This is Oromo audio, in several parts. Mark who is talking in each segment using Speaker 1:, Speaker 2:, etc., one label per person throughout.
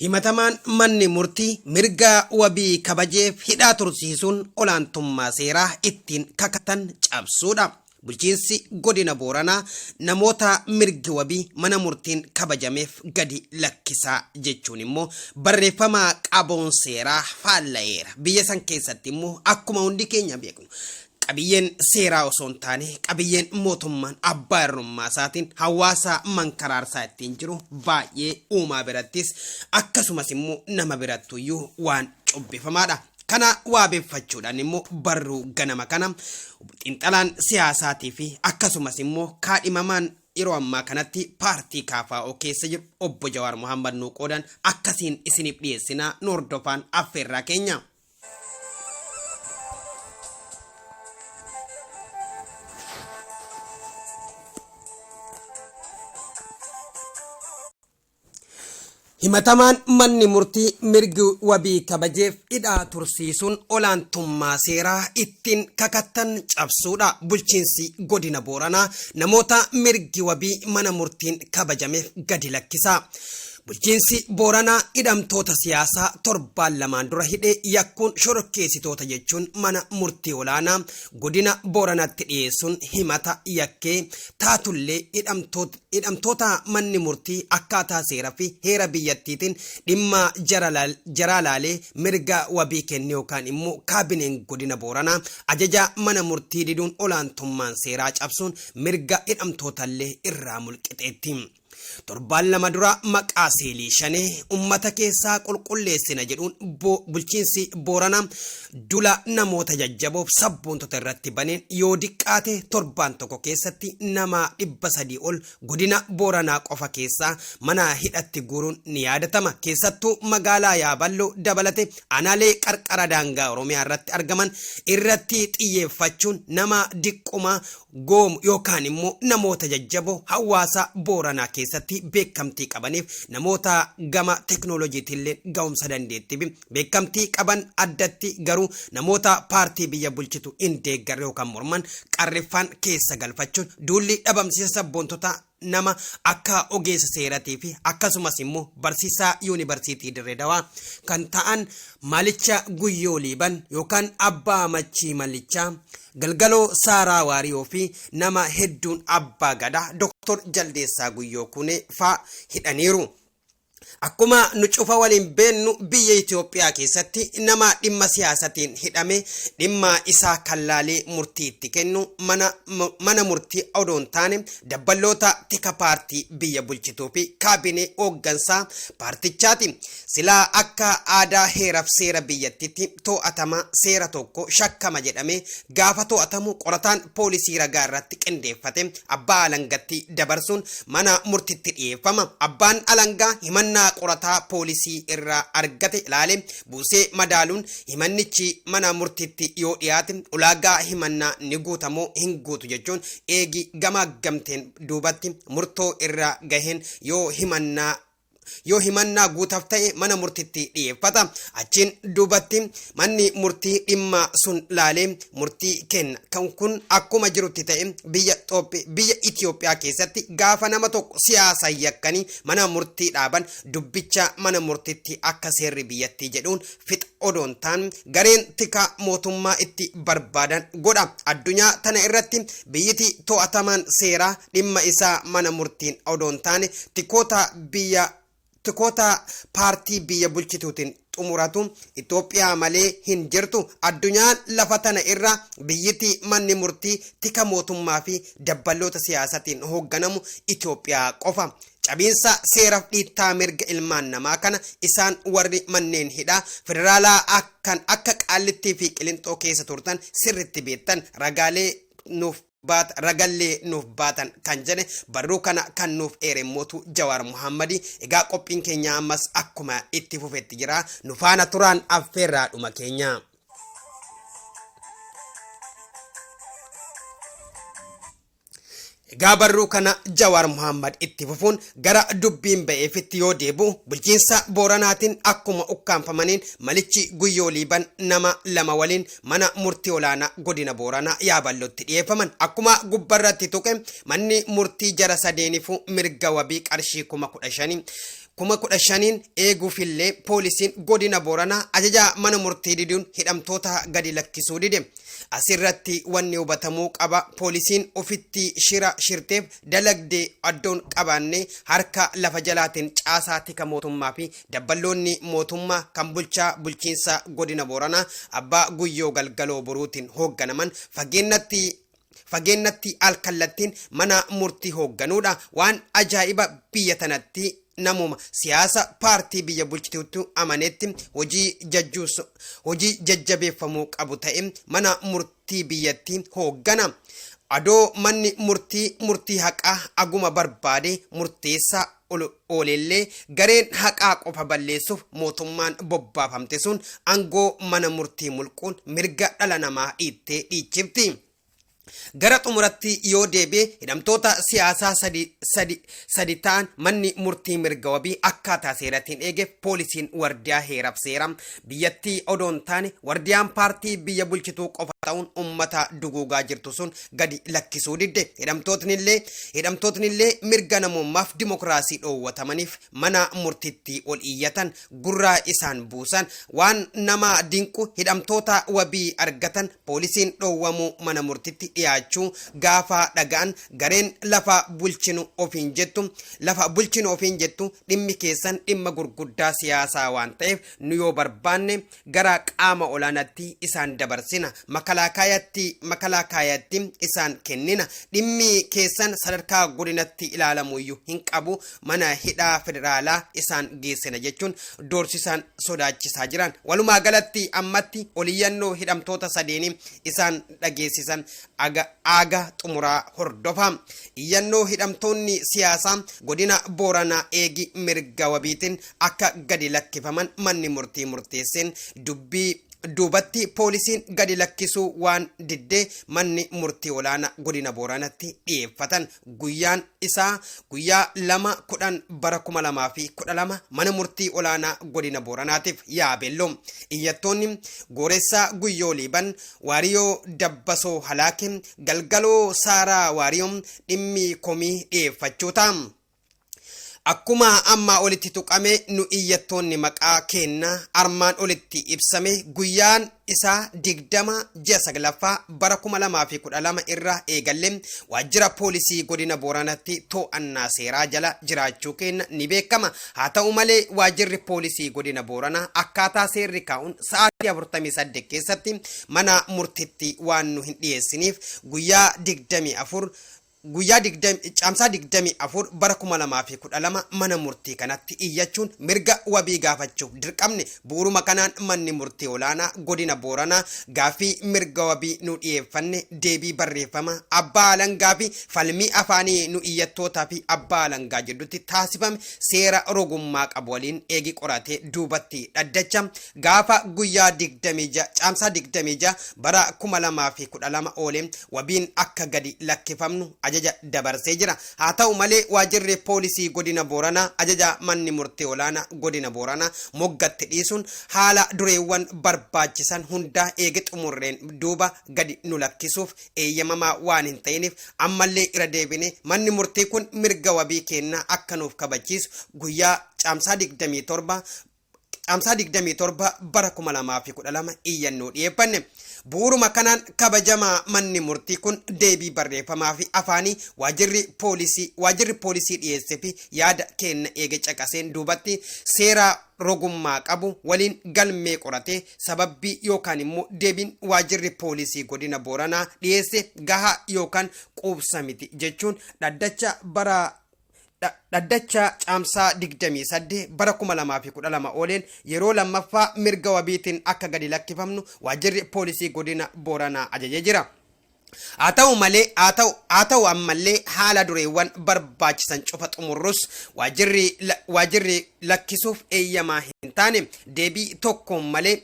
Speaker 1: Himatamaan manni murtii mirga wabii kabajeef hidhaa tursiisuun olaantummaa seeraa ittiin kakatan cabsuudha. Bulchiinsi godina Booranaa namoota mirgi wabii mana murtiin kabajameef gadi lakkisaa jechuun immoo barreeffama qaboon seeraa faalla'eera. Biyya san keessatti immoo akkuma hundi keenya beeknu Qabiyyeen seeraa osoo hin taane qabiyyeen mootummaan abbaa irrummaa isaatiin hawaasa mankaraarsaa ittiin jiru baay'ee uumaa birattis akkasumas immoo nama birattuyyuu waan cubbifamaadha. Kana waabeffachuudhaan immoo barruu ganama kana xiinxalaan siyaasaatii fi akkasumas immoo kaadhimamaan yeroo ammaa kanatti paartii kaafaa'oo keessa jiru obbo Jawaar Mohaammed nuu qoodan akkasiin isiniif dhiyeessinaa nu hordofaan affeerraa keenya. Himatamaan manni murtii mirgi wabii kabajeef hidhaa tursiisuun olaantummaa seeraa ittiin kakattan cabsuudha. Bulchiinsi godina Booranaa namoota mirgi wabii mana murtiin kabajameef gadi lakkisa. Bulchiinsi Booranaa hidhamtoota siyaasaa torbaan lamaan dura hidhe yakkuun shororkeessitoota jechuun mana murtii olaanaa godina Booranatti dhiyeessuun himata yakkee taatullee hidhamtoota manni murtii akkaataa seera fi heera biyyattiitiin dhimma jaraa laalee mirga wabii kenne yookaan immoo kaabineen godina Booranaa ajaja mana murtii diduun olaantummaan seeraa cabsuun mirga hidhamtootallee irraa mulqixeetti. Torbaan lama dura maqaa seelii shanee ummata keessaa qulqulleessina jedhuun bo bulchiinsi Booranaa dula namoota jajjaboof sabboontota irratti baneen yoo diqqaate torbaan tokko keessatti nama dhibba sadii ol godina Booranaa qofa keessaa mana hidhatti guuruun ni yaadatama. Keessattuu magaalaa Yaaballoo dabalate anaalee qarqara daangaa Oromiyaa irratti argaman irratti xiyyeeffachuun nama diqquma Goom yookaan immoo namoota jajjaboo hawaasa Booranaa keessatti beekamtii qabaniif namoota gama teknolojiitiilleen ga'umsa dandeettiifi beekamtii qaban addatti garuu namoota paartii biyya bulchitu hin deeggarre yookaan morman qarriffaan keessa galfachuun duulli dhabamsiisa sabboontotaa nama akka ogeessa seeratii fi akkasumas immoo barsiisaa yuunibarsiitii Dirree Dawaa kan ta'an Malicha Guyyoo Liiban yookaan Abbaa Machii Malichaa, Galgaloo Saaraa Waariyoo fi nama hedduun Abbaa Gadaa Doktor Jaldeessaa Guyyoo Kunee faa hidhaniiru. Akkuma nu cufa waliin beennu biyya Itoophiyaa keessatti nama dhimma siyaasatiin hidhame dhimma isaa kan laalee murtii itti kennu mana, mu- mana murtii odoo hin taane dabballoota tika paartii biyya bulchituu fi kaabinee hooggansaa paartichaati. Silaa akka aadaa heeraf seera biyyattitti to'atama seera tokko shakkama jedhamee gaafa to'atamu qorataan poolisii ragaa irratti qindeeffate abbaa alangatti dabarsuun mana murtitti dhiyeeffama. Abbaan alangaa himannaa qorataa poolisii irraa argate ilaalee buusee madaaluun himannichi mana murtitti yoo dhiyaate ulaagaa himannaa ni guuta moo hin guutu jechuun eegi gamaaggamteen duubatti murtoo irraa gaheen yoo himannaa yoo himannaa guutaf ta'e mana murtitti dhiyeeffata. Achiin duubatti manni murtii dhimma sun laalee murtii kenna. Kan kun akkuma jirutti ta'e biyya Xoophi biyya Itiyoophiyaa keessatti gaafa nama tokko siyaasan yakkanii mana murtii dhaaban dubbicha mana murtitti akka seerri biyyattii jedhuun fixa odoon taan gareen tikaa mootummaa itti barbaadan godha addunyaa tana irratti biyyiti to'atamaan seeraa dhimma isaa mana murtiin odoon taane tikoota biyya tikoota paartii biyya bulchituutiin xumuratu Itoophiyaa malee hin jirtu addunyaan lafa tana irra biyyiti manni murtii tika mootummaa fi dabballoota siyaasatiin hoogganamu Itoophiyaa qofa Cabiinsa seeraf dhiittaa mirga ilmaan namaa kana isaan warri manneen hidhaa federaalaa kan akka Qaallittii fi Qilinxoo keessa turtan sirritti beektan ragaalee nuuf baata ragallee nuuf baatan kan jedhe barruu kana kan nuuf eere mootu Jawaar Muhammadi egaa qophiin keenya ammas akkuma itti fufetti jira nu faana turaan affeerraa dhuma keenya. Egaa barruu kana Jawaar Muhammad itti fufuun gara dubbiin ba'eefitti yoo deebi'u bulchiinsa Booranaatiin akkuma ukkaamfamaniin malichi Guyyoo Liiban nama lama waliin mana murtii olaanaa godina Booranaa Yaaballotti dhiyeeffaman. Akkuma gubbarratti tuqe manni murtii jara sadeeniifuu mirga wabii qarshii kuma kudha shanii kuma kudha shaniin eeguufillee poolisiin godina Booranaa ajajaa mana murtii diduun hidhamtoota gadi lakkisuu dide. Asirratti wanni hubatamuu qaba poolisiin ofitti shira shirteef dalagde addoon qabaanne harka lafa jalaatiin caasaa tika mootummaa fi dabballoonni mootummaa kan bulchaa bulchiinsa godina Booranaa abbaa guyyoo galgaloo boruutiin hoogganaman fageennatti fageennattii al kallattiin mana murtii hoogganuudha. Waan ajaa'iba biyya tanatti namuma siyaasa paartii biyya bulchituutti amaneetti hojii jajjuus hojii jajjabeeffamuu qabu ta'e mana murtii biyyattii hooggana. Adoo manni murtii murtii haqaa aguma barbaade murteessaa ol ooleellee gareen haqaa qofa balleessuuf mootummaan bobbaafamte sun angoo mana murtii mulquun mirga dhala namaa dhiittee dhiichifti. Gara xumuratti yoo deebi'e hidhamtoota siyaasaa sadi, sadi, sadi ta'an manni murtii mirga wabii akkaataa seeratiin eegeef poolisiin wardiyaa heeraf seera biyyattii odoo hin taane wardiyaan paartii biyya bulchituu qofa ta'uun ummata duguugaa jirtu sun gadi lakkisuu didde. Hidhamtootnillee hidhamtootnillee mirga namummaaf dimokiraasii dhoowwatamaniif mana murtiitti ol iyyatan, gurraa isaan buusan. Waan nama dinqu hidhamtoota wabii argatan poolisiin dhoowwamuu mana murtitti dhiyaachuu gaafa dhaga'an gareen lafa bulchinu ofiin jettu lafa bulchinu ofiin jettu dhimmi keessan dhimma gurguddaa siyaasaa waan ta'eef nu yoo barbaanne gara qaama olaanaatti isaan dabarsina, makalaakaayaatti, makalaakaayaatti isaan kennina, dhimmi keessan sadarkaa godinatti ilaalamuyyuu hin qabu, mana hidhaa federaalaa isaan geessina jechuun doorsisaan sodaachisaa jiran. Walumaa galatti ammatti oliyyannoo hidhamtoota sadeenii isaan dhageessisan aga aaga xumuraa hordofa. Iyyannoo hidhamtoonni siyaasaa godina Booranaa eegi mirga wabiitiin akka gadi lakkifaman manni murtii murteesseen dubbii duubatti poolisiin gadi lakkisuu waan diddee manni murtii olaana godina booranatti dhiyeeffatan guyyaan isaa guyyaa lama kudhan bara kuma lamaa fi kudha lama mana murtii olaanaa godina booranaatiif yaabeello iyyattoonni gooressaa guyyoo liiban waariyoo dabbasoo halaake galgaloo saaraa waariyoo dhimmi komii dhiyeeffachuu ta'a. Akkuma ammaa olitti tuqame nu iyyattoonni maqaa keenna armaan olitti ibsame guyyaan isaa 20 ji'a 9ffaa bara 2012 irraa eegalle waajjira poolisii godina Booranatti to'annaa seeraa jala jiraachuu keenna ni beekama. Haa ta'u malee waajjirri poolisii godina Booranaa akkaataa seerri kaa'uun sa'aatii 48 keessatti mana murtitti waan nu hin dhiyeessiniif guyyaa 24 Guyyaa 20 Caamsaa 24 bara 2012 mana murtii kanatti iyyachuun mirga wabii gaafachuuf dirqamne. Bu'uruma kanaan manni murtii olaanaa godina Booranaa gaaffii mirga wabii nu dhiyeeffanne deebii barreeffamaa abbaa alangaa fi falmii afaanii nu iyyattootaa fi abbaa alangaa jiddutti taasifame seera rogummaa qabu waliin eegi qoratee duubatti dhaddacha Gaafa guyyaa 26 Caamsaa 26 bara 2012 oole wabiin akka gadi lakkifamnu ajaja dabarsee jira. Haa ta'u malee waajirri poolisii godina Booranaa ajaja manni murtii olaanaa godina Booranaa moggatti dhiisuun haala dureewwan barbaachisan hundaa eege xumurreen duuba gadi nu lakkisuuf eeyyamamaa waan hin ta'iniif ammallee irra deebine manni murtii kun mirga wabii keennaa akka nuuf kabachiisu guyyaa Caamsaa 27 Caamsaa 27 bara 2012 iyyannoo dhiyeeffanne. Bu'uuruma kanaan kabajamaa manni murtii kun deebii barreeffamaa fi afaanii waajirri poolisii waajirri poolisii dhiyeesse fi yaada keenna eege caqaseen duubatti seeraa rogummaa qabu waliin galmee qoratee sababbii yookaan immoo deebiin waajirri poolisii godina Booranaa dhiyeesse gahaa yookaan quubsa miti jechuun dhaddacha bara Dhaddacha Caamsaa 28 bara 2012 ooleen yeroo lammaffaa mirga wabiitiin akka gadi lakkifamnu waajjirri poolisii godina Booranaa ajajee jira. Haa ta'u malee haa ta'u haa ta'u ammallee haala dureewwan barbaachisan cufa xumurrus waajjirri waajjirri lakkisuuf eeyyamaa hin taane deebii tokkoon malee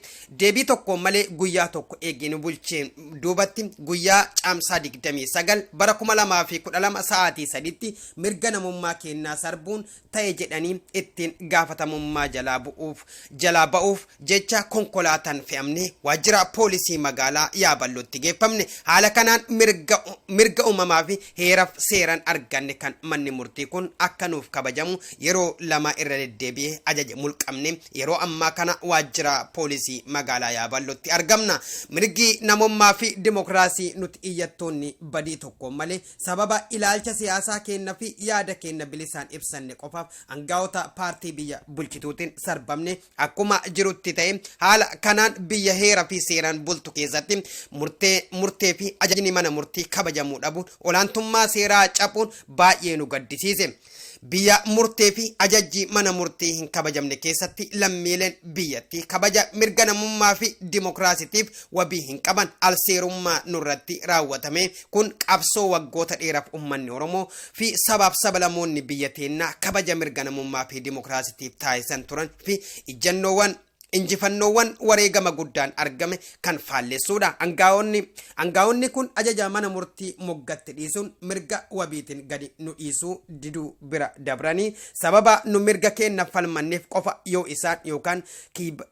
Speaker 1: Deebii tokkoon malee guyyaa tokko eegee nu bulcheen duubatti guyyaa Caamsaa 29 bara 2012 sa'aatii sadiitti mirga namummaa keennaa sarbuun ta'e jedhanii ittiin gaafatamummaa jalaa bu'uuf jalaa ba'uuf jecha konkolaataan fe'amne waajjira poolisii magaalaa Yaaballotti geeffamne. Haala kanaan mirga mirga uumamaa fi heeraf seeran arganne kan manni murtii kun akka nuuf kabajamu yeroo lama irra deddeebi'ee ajaje mulqamnee Yeroo ammaa kana waajjira poolisii magaalaa Yaaballotti argamna. Mirgi namommaa fi dimokiraasii nuti iyyattoonni badii tokkoon malee sababa ilaalcha siyaasaa keenna fi yaada keenna bilisaan ibsanne qofaaf angaa'ota paartii biyya bulchituutiin sarbamne akkuma jirutti ta'ee haala kanaan biyya heera fi seeraan bultu keessatti murtee murtee fi ajajni mana murtii kabajamuu dhabuun olaantummaa seeraa capuun baay'ee nu gaddisiise. Biyya murtee fi ajajjii mana murtii hin kabajamne keessatti lammiileen biyyattii kabaja mirga namummaa fi dimokiraasitiif wabii hin qaban alseerummaa nurratti raawwatame kun qabsoo waggoota dheeraaf ummanni Oromoo fi sabaaf sabalamoonni biyya teennaa kabaja mirga namummaa fi dimokiraasitiif taasisan turan fi ijjannoowwan injifannoowwan wareegama guddaan argame kan faallessuudha. Angaa'onni angaa'onni kun ajaja mana murtii moggatti dhiisuun mirga wabiitiin gadi nu dhiisuu diduu bira dabranii sababa nu mirga keenna falmanneef qofa yoo isaan yookaan kiib-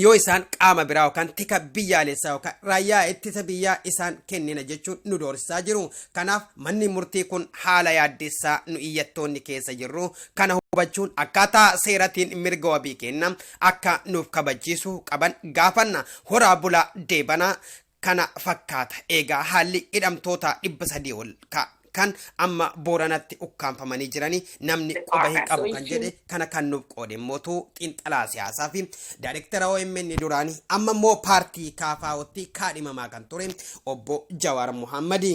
Speaker 1: yoo isaan qaama biraa yookaan tika biyyaalessaa yookaan raayyaa ittisa biyyaa isaan kennina jechuun nu doorsisaa jiru. Kanaaf manni murtii kun haala yaaddessaa nu iyyattoonni keessa jirru Kana hubachuun akkaataa seeratiin mirga wabii keenna akka nuuf kabachiisu qaban gaafanna. Horaa bulaa deebanaa kana fakkaata eegaa haalli hidhamtootaa 300 ol ka kan amma booranatti ukkaamfamanii jiranii namni quba hin qabu kan jedhe kana kan nuuf qoode immootu xiinxalaa siyaasaa fi daayirektara OMN duraanii amma immoo paartii kaafaa'otti kaadhimamaa kan ture obbo Jawaar Muhammadi.